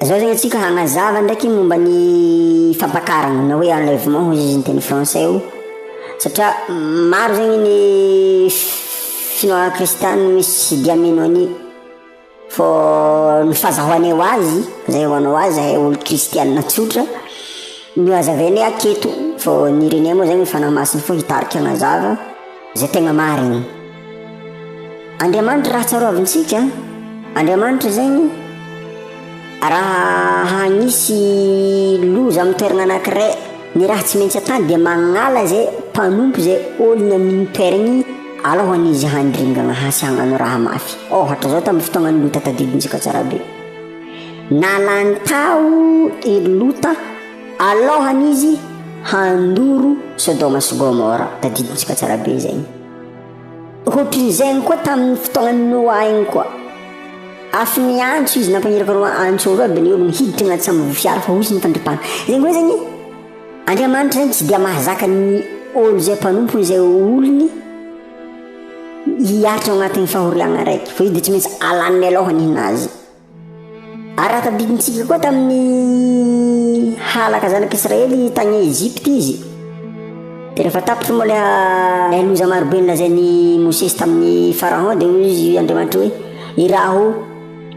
Zao zegny tsika hagnazava ndraiky momba ny fampakaragna na hoe enlèvement hoy izy ny teny français io satria maro zegny ny finoagna kristianina misy dia mino an'io fô ny fazahoanay ho azy zay ho anao azy zahay olo kristianina tsotra no hazavainay aketo fô ny irenay moa zegny fanahy masina fo hitarika hagnazava zay tegna marigny Andriamanitra raha tsaroavintsika Andriamanitra zegny raha hagnisy loza amin'ny toerana anankiray ny raha tsy maintsy atany dia magnala zay mpanompo zay olona amin'igny toeragny alohany izy handringana hasy hagnano raha mafy ôhatra zao tamin'ny fotoagnan'ny lota tadidintsika tsara be nalany tao i lota alohany izy handoro sodoma sy gomora tadidintsika tsara be zegny Hoatrin'izay ihany koa tamin'ny fotoanan'i Noa igny koa. Afon'ny antso izy nampagniraka roa antso roa ben'ny olony hiditra agnaty sambo fiara fa hozy ny fandripana. Zegny hoe zegny Andriamanitra zegny tsy dia mahazaka ny ôlo zay mpanompony zay olony hiaritra agnatin'ny fahoriagna araiky fa io de tsy maintsy alany mialoha ninazy. Araka ny dinintsika koa tamin'ny halaka zanak'Israely tany Egypte izy, dia rehefa tapitra moa ilay ilay loza marobe nolazain'i Mosesy tamin'i Pharaon dia hoy izy Andriamanitra hoe iraho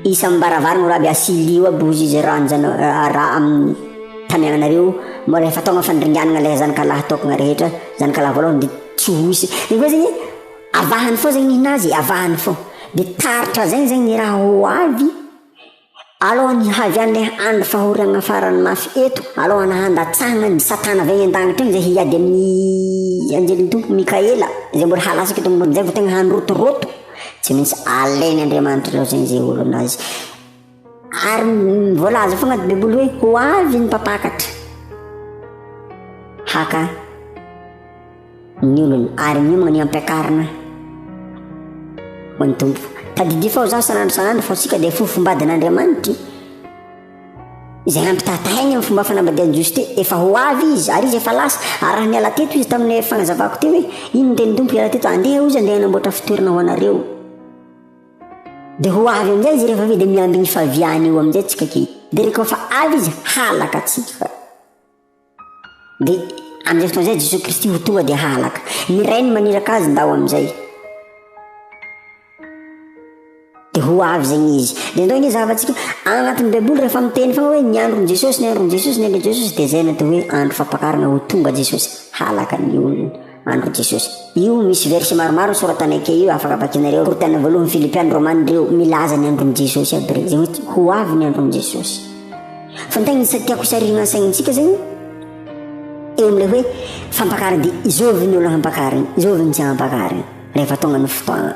isan'ny baravarana raby asilio aby hozy izy raha anjana raha amin'ny tany anareo moa rehefa tonga fandringanana ilay zanakalahy tokana rehetra zanakalahy voalohany dia tsy hoisy. Io koa zegny Avahany fô zegny ninazy avahany fô de taratra zegny zegny ny raha ho avy alohan'ny hihavian'le andro fahoriagna farany mafy eto alohan'ny handatsahagna ny satana avy any an-dagnitry agny zay hiady amin'ny anjelin'ny Tompo Mikaela zay mbola halatsaka eto ambonin'ny tany vao tegna handrotoroto, tsy maintsy alain'Andriamanitra aloha zegny zay olo anazy. Ary voalaza foana ny Baiboly hoe ho avy ny mpampakatra haka ny olony ary miomagna ny ampiakarina ho an'ny Tompo. Tadidio fao za sanandro sanandro fa sika dia fofombadin'Andriamanitra. Izay nampitatahiny amin'ny fomba fanambadian'i Jiosy teo, efa ho avy izy ary izy efa lasa. Ary raha niala teto izy tamin'ny fanazavako teo hoe ino ny tenin'ny Tompo hiala teto, andeha hozy andeha hanamboatra fitoerana ho anareo. Dia ho avy amin'izay izy rehefa vita dia miandry ny faviany eo amin'izay tsika kely. Dia rehefa fa avy izy halaka antsika. Dia amin'izay fotoana izay Jesoa Kristy ho tonga dia halaka. Ny Rainy maniraka azy ndao amin'izay. Dia ho avy zegny izy. Dia ndao ny zavatsika agnatin'ny Baiboly rehefa miteny fa hoe ny andron'i Jesosy, ny andron'i Jesosy, ny andron'i Jesosy dia izay natao hoe andro fampakarana ho tonga Jesosy halaka ny olona. Andry Jesosy. Io misy verset maromaro soratana ake io afaka vakinareo, Korintana voalohany, Filipiana, Romana ireo milaza ny andron'i Jesosy aby rey, zay hoe ho avy ny andron'i Jesosy. Fa ny tegna isa tiako isarihina ny saignintsika zany eo amin'ilay hoe fampakarina dia izao avy ny olona hampakarina, izao avy ny tsy hampakarina rehefa tonga ny fotoagna.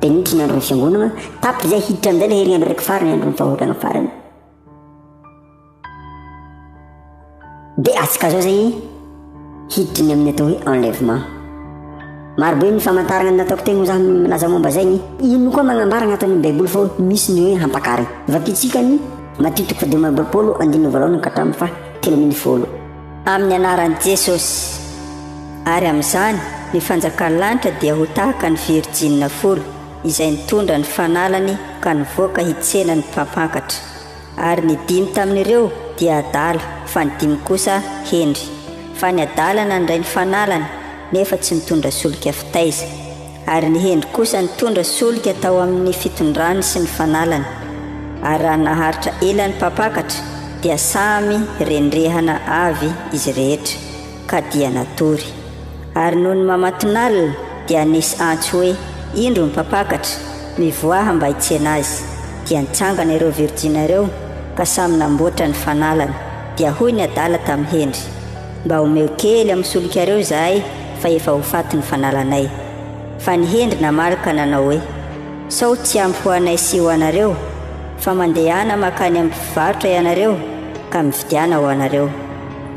Dia niditra ny andron'ny fiangonana, tapitra izay hiditra amin'izay ilay herinandro araiky farany, andron'ny fahotana farany. Dia atsikazao izay hiditra ny amin'ny atao hoe enlèvement. Marobe ny famantarana nataoko teny ho za milaza momba izay ny ino koa magnambara agnaty ny Baiboly fa misy ny hoe hampakary. Vakitsika ny Matio toko fahadimy amby roapolo andininy voalohany ka hatramin'ny faha telo ambin'ny folo. Amin'ny anaran'i Jesosy. Ary amin'izany, ny fanjakan'ny lanitra dia ho tahaka ny virjinina folo izay nitondra ny fanalany ka nivoaka hitsena ny mpampakatra. Ary ny dimy tamin'ireo dia adala, fa ny dimy kosa hendry. Fa ny adala nandray ny fanalany, nefa tsy nitondra solika fitaiza. Ary ny hendry kosa nitondra solika tao amin' ny fitondrany sy ny fanalany, ary raha naharitra ela ny mpampakatra, dia samy rendrehana avy izy rehetra, ka dia natory. Ary nony mamatonalina, dia nisy antso hoe, Indro ny mpampakatra, mivoaha mba hitsena azy. Dia nitsangana ireo virjina ireo, ka samy namboatra ny fanalany. Dia hoy ny adala tamin'ny hendry. Mba omeo kely amin'ny solikareo izahay fa efa ho faty ny fanalanay. Fa ny hendry namaly ka nanao hoe, Sao tsy ampy ho anay sy ho anareo? Fa mandehana mankany amin'ny mpivarotra ianareo ka mividiana ho anareo.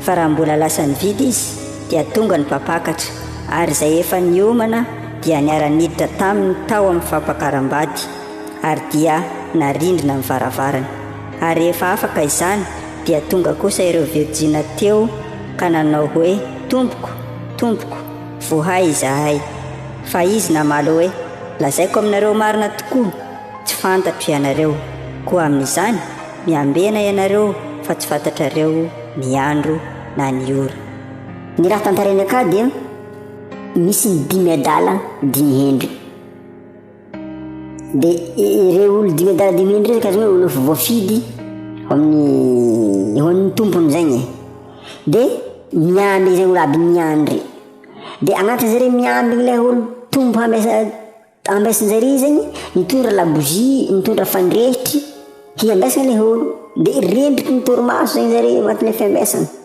Fa raha mbola lasa nividy izy, dia tonga ny mpampakatra, ary izay efa niomana dia niara-niditra taminy tao amin'ny fampakaram-bady, ary dia narindrina ny varavarany. Ary rehefa afaka izany, dia tonga kosa ireo virjina teo ka nanao hoe, Tompoko, Tompoko, vohay izahay. Fa Izy namaly hoe, Lazaiko aminareo marina tokoa, tsy fantatro ianareo. Koa amin'izany, miambena ianareo fa tsy fantatrareo ny andro na ny ora. Ny raha tantarainy akà dia misy dimy adala dimy hendry. Dia ireo olo dimy adala dimy heny ireo karazana hoe olo efa voafidy ho amin'ny ho an'ny tompony zegny e. Dia miandry izay olo aby miandry. Dia agnatiny zareo miandry ilay olo tompo ambesa ambesin-jare zegny mitondra labozia, mitondra fandrehitry hiambesana ilay olo. Dia rendriky ny torimaso zegny zareo agnatin'ilay fiambesana.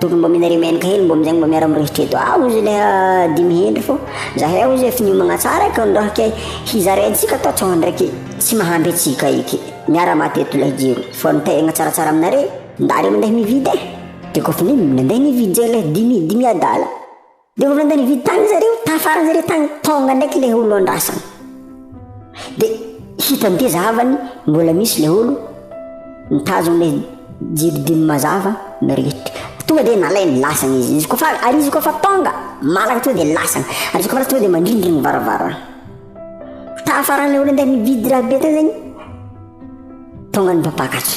Tokony mba mila remenaka hely mba amin'izay mba miara miresitra eto ah ozy ilay dimy hendry fô zahay ozy efa niomagna tsara eky androah ke hizara antsika atao tsao ndraiky tsy mahampy antsika eky miara maty eto ilay jiro fô ny tegna tsaratsara aminareo ndareo mandeha mividy e de kôfa ny mandeha mividy zay ilay dimy dimy adala Dia vao nandany vy tany zareo, tafaran'ny zareo tany, tonga ndraiky ilay olo andrasana. Dia hitan'ny teza havany mbola misy ilay olo mitazona ilay jiribiny mazava mirehitra. Tonga dia nalainy lasana izy, izy koa fa, ary izy koa fa tonga, malaka tonga dia lasana, ary izy koa fa tonga dia mandrindrina ny varavarana. Tafaran'ilay olo nandany vy drabe tany zany, tonga ny mpampakatra.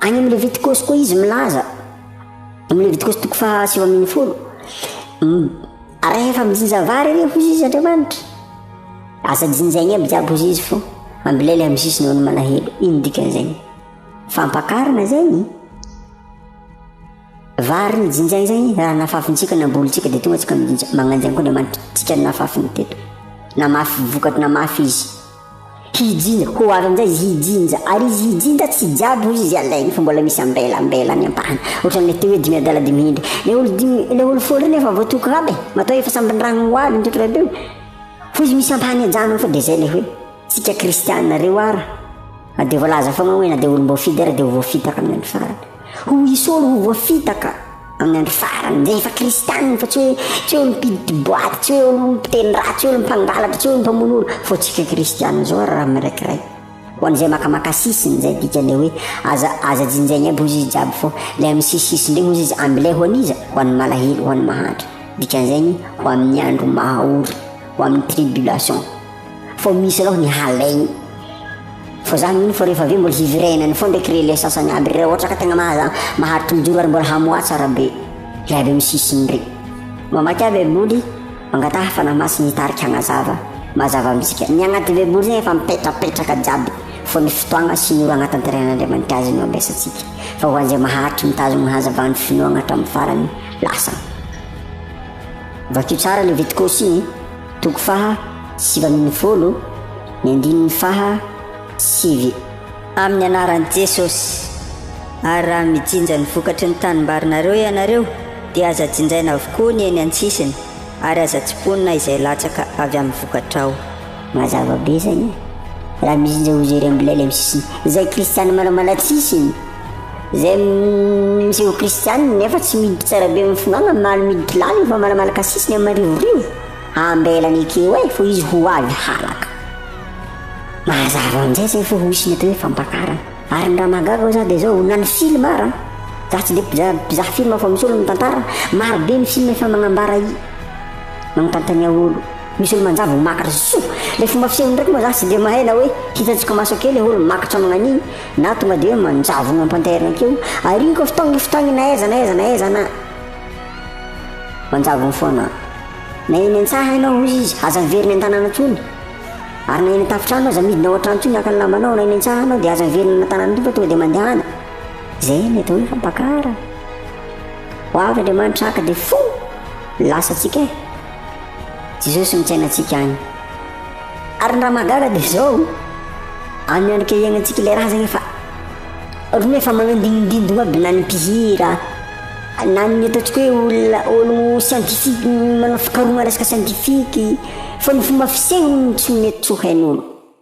Any amin'ny Levitikosy koa izy milaza, amin'ny Levitikosy toko faha sivy amin'ny folo, rehefa mijinja vary ireo hoy izy Andriamanitra, aza jinjaigny aby jiaby hoy izy fo, ambilely amin'ny sisiny eo ny malahelo, ino dikan'izegny? Fampakarana zegny? Vary ny jinja izay raha nafafintsika nambolintsika dia tonga tsika mijinja magnanja koa Andriamanitra tsika nafafiny teto namafy vokatry namafy izy hijinja ho avy amin'izay izy hijinja ary izy hijinja tsy jiaby hoy izy alainy fa mbola misy ambela ambela any ampahana ohatran'ilay teo hoe dimy adala dimy hindry ilay olo dimy ilay olo folo reny efa voatoky raba e matoa efa sambiny ragno ho avy nitoky rabeo fa izy misy ampahany ajanony fa dia izay ilay hoe tsika kristiana reo ara na dia voalaza foagna hoe na dia olom-boafidy ara dia ho voafitaka amin'ny andro farany Ho esory ho voafitaka amin'ny andro farany, rehefa kristianina fa tsy hoe tsy hoe olo-mpiditry boaty, tsy hoe olo-mpiteny ratsy, tsy hoe olo-mpangalatra, tsy hoe olo-mpamono olo, fa tsika kristianina izao ary raha miraikiray. Ho an'izay makamaka sisiny izay dikan'ilay hoe aza aza jinjaigna aby hozy izy jiaby fô ilay amin'ny sisisisiny ndray hozy izy ambilay ho an'iza? Ho an'ny malahelo, ho an'ny mahantra. Dikan'izay ny ho amin'ny andro maha ory, ho amin'ny tribulation. Fa misy aloha ny halaigny. Fa za mino fa rehefa avy eo mbola hiverenany foana ndreky relais sasagny aby re ohatra ka tegna maha- maharitra mijoro ary mbola hamoaha tsara be le avy amy sisiny re. Mamaky ahy baiboly, mangataha fanahy masina hitarika hagnazava, mazava amintsika. Ny agnaty baiboly zegny efa mipetrapetraka jiaby fa ny fotoagna sy ny ora agnatanterehan'Andriamanitry azy no ampiasatsika. Fa ho an'izay maharitry mitazogno ny hazavany finoagna hatramin'ny farany, lasa. Vakio tsara le viticosi e. Toko faha sivy ambin'ny folo, ny andininy faha sivy. Amin'ny anaran'i Jesosy. Ary raha mijinja ny vokatry ny tanimbarinareo ianareo, dia aza jinjaina avokoa ny eny an-tsisiny, ary aza tsiponina izay latsaka avy amin'ny vokatrao. Mazava be izany e! Raha mijinja ho jery amin'ilay eny amin'ny sisiny, izay kristiana manao malatsisiny, Izay misy ho kristianina nefa tsy miditra tsara be amin'ny finoana maly miditra lany io fa manamala kasisiny amin'ny marivorivo ambelany ekeo e fa izy ho avy halaka mazava amin'izay zay fa misy ny atao hoe fampakarana ary ny raha mahagaga koa za dia zao na ny film ara za tsy dia mpiza- mpizaha film fa misy olo mitantara maro be ny film efa magnambara i magnontanontania olo misy olo manjavy ho makatra soa le fomba fisehony ndraiky moa za tsy dia mahay na hoe hitantsika maso akeo le olo makatra magnan'iny Na tonga dia hoe manjavona am-pantairana keo, ariako avy tany lefy tany na aiza na aiza na aiza na. Manjavona foana. Na eny an-tsaha ianao, hozy izy, aza miverina an-tanàna intsony. Ary na eny an-tafontrano aza, midina ao an-trano intsony haka ny lambanao, na eny an-tsaha ianao dia aza miverina any an-tanàna intsony fa tonga dia mandehana. Izay no atao hoe fampakara. Ho avy Andriamanitra haka dia fo! Lasa antsika e! Jesosy no fiainantsika any. Ary ny raha mahagaga dia izao, amin'ny andro kehianantsika ilay razana efa ohatry ny hoe efa manandinindindogno aby na ny mpihira na ny ataontsika hoe olona ologno scientifique manao fikarohana resaka scientifique fa ny fomba fisehony no tsy mety tsy ho hain'olo.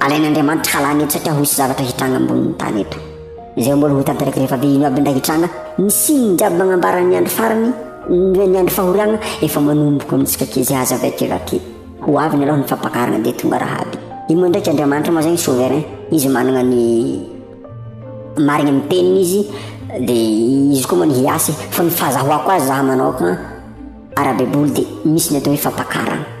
Alain'Andriamanitra halany eto satria hisy zavatra hitranga ambonin'ny tany eto. Izay mbola ho tanteraka rehefa avy ino aby ndray hitranga, ny signe jiaby magnambaran'ny andro farany, ny ny andro fahoriagna efa manomboko amintsika kizay aza avy aty avy aty. Ho avy ny aloha ny fampakarana dia tonga raha aby. Io moa ndraiky Andriamanitra moa zany souverain, izy managna ny marigny amin'ny teniny izy dia izy koa moa ny hiasy fa ny fahazahoako azy za manaoka, Ara-baiboly dia misy ny atao hoe fampakarana.